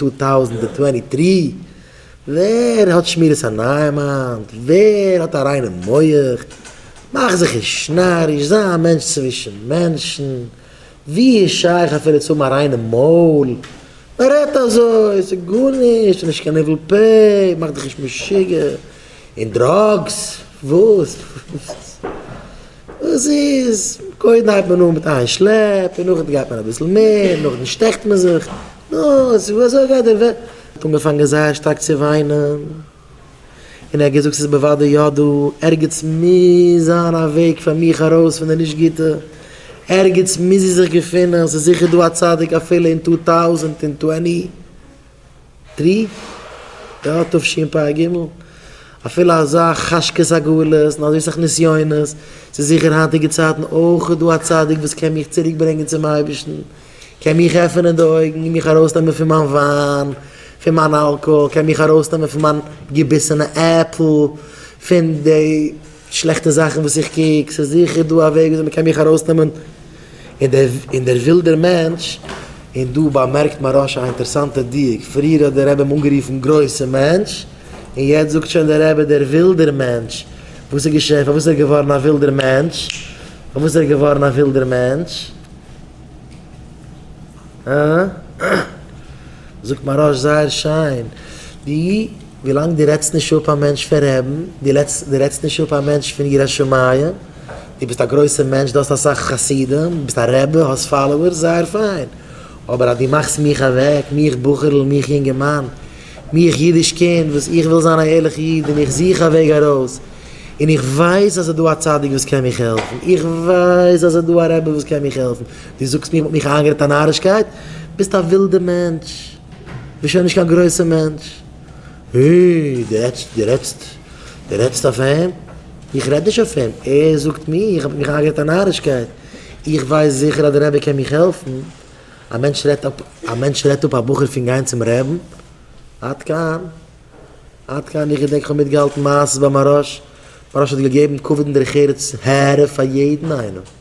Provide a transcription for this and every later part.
טו טאוזענד טווענטי טרי, ווער האט שמירת עיניים היינט? ווער האט א ריינע מח? מאך זיך נישט נאריש, זיי א מענטש צווישן מענטשן, ווי איז שייך אפילו צו האבן א ריינע מויל? מען רעדט אזוי, ס'איז גארנישט, ס'איז נישט קיין ניבול פה, מאך דיך נישט משוגע, און דראגס? וואס וואס איז? קודם הייבט מען אן מיט איין שלעפ און נאכדעם גייט מען אביסל מער און נאכדעם שטעכט מען זיך. נו, ס'איז ווי אזוי גייט די וועלט? ער האט אנגעפאנגען זייער שטארק צו וויינען און ער האט געזאגט ס'איז בוודאי יא דא, ערגעץ מוז זיין א וועג פאר מיך ארויס פון די נישט גוטע, ערגעץ מוז איך זיך געפונען, ס'איז זיכער דא א צדיק אפילו אין טו טאוזענד און טוועני. תרי ד תשפ ג, אפילו אזא חשקות הגאולה און אזוי סאך נסיונות, ס'איז זיכער היינטיגע צייטן אויך איז דא א צדיק וואס קען מיך צוריק ברענגען צום אייבערשטן, קען מיך עפענען די אויגן, מיך ארויסנעמען פון מיין וויין, פון מיין אלקאהאל, קען מיך ארויסנעמען פון מיין געביסענע עפל, פון די שלעכטע זאכן וואס איך קוק, ס'איז זיכער דא א וועג וויאזוי מ'קען מיך ארויסנעמען אין דער ווילדער מענטש. און דא באמערקט מהרש א אינטערסאנטע דיוק, פריער האט דער רבי אים אנגערופן גרויסע מענטש, און יעצט זאגט שוין דער רבי דער ווילדער מענטש. וואס איז געשען? פארוואס איז ער געווארן א ווילדער מענטש? פארוואס איז ער געווארן א ווילדער מענטש? הא? זאגט מהרש זייער שיין, די. ווילאנג דו רעדסט נישט אפ א מענטש פון רעבן, דו לעצט דו רעדסט נישט אפ א מענטש פון יראת שמים, דו ביסט א גרויסער מענטש, דו האסט אסאך חסידים, דו ביסט א רבי, האסט פאלאוערס, זייער פיין, אבער אז דו מאכסט מיך אוועק, מיך בחור'ל, מיך יונגערמאן, מיך אידיש קינד וואס איך וויל זיין א ערליכע איד און איך זוך א וועג ארויס, און איך ווייס אז ס'איז דא א צדיק וואס קען מיך העלפן, איך ווייס אז ס'איז דא א רבי וואס קען מיך העלפן, דו זאגסט מיך, מיך איינגערעדט א נארישקייט, ביסט א ווילדע מענטש. ביסט שוין נישט קיין גרויסע מענטש. די רעדסט אויף אים? איך רעד נישט אויף אים, ער זאגט מיר, איך האב מיט מיך איינגערעדט א נארישקייט, איך ווייס זיכער אז די רבי קען מיך העלפן, א מענטש רעדט א מענטש רעדט אפ א בחור פון גיין צום רעבן? עד כאן, עד כאן, איך געדענק איך האב מיטגעהאלטן מעשות ביי מהרש, מהרש האט געגעבן כבוד אין דרך ארץ הערה פאר יעדן איינעם.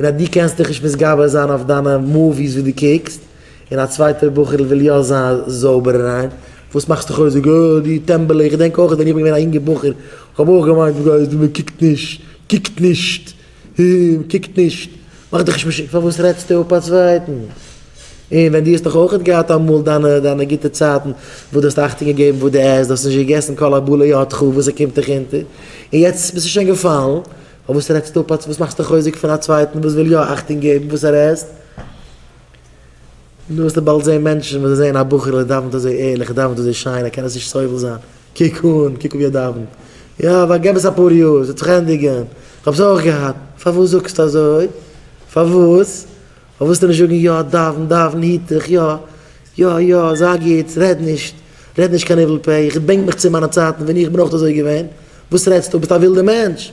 און אז דו קענסט דיך נישט מתגבר זיין אויף דיינע מאוויס וואס דו קוקסט, און א צווייטער בחור'ל וויל יא זיין זויבער און ריין, וואס מאכסטו חוזק, אה, דו טעמבעלע, איך געדענק אויך ווען איך בין געווען א יונגער בחור, כ'האב אויך געמיינט וואס הייסט דא מען קוקט נישט, קוקט נישט, הי הי, מען קוקט נישט, מאך דיך נישט משוגע, פארוואס רעדסטו אפ א צווייטן? און ווען דו האסט דאך אויך געהאט אמאל דיינע דיינע גוטע צייטן וואס דו האסט אכטונג געגעבן וואס דו עסט, דו האסט נישט געגעסן כל הבא לידך וואס ס'קומט דיך אונטער, און יעצט ביסטו שוין געפאלן, אויף וואס רעדסטו אפ, וואס מאכסטו חוזק פון א צווייטן וואס וויל יא אכטונג געבן וואס ער עסט? דו וועסט באלד זען מענטשן ווען זיי זעען א בחור'ל דאווענט אזוי ערליך, דאווענט אזוי שיין, ער קען עס נישט סובל זיין, קוק אן, קוק ווי ער דאווענט, יא אבער געב עס אפאר יאר, ס'וועט זיך ענדיגן, איך האב עס אויך געהאט, פארוואס זאגסטו אזוי? פארוואס? פארוואס ווילסטו נישט זאגן יא, דאווען, דאווען, היט דיך, יא, יא, יא, זיי גוט, רעד נישט, רעד נישט קיין ניבול פה, איך בענק מיך צו מיינע צייטן ווען איך בין אויך אזוי געווען, וואס רעדסטו, ביסט א ווילדע מענטש.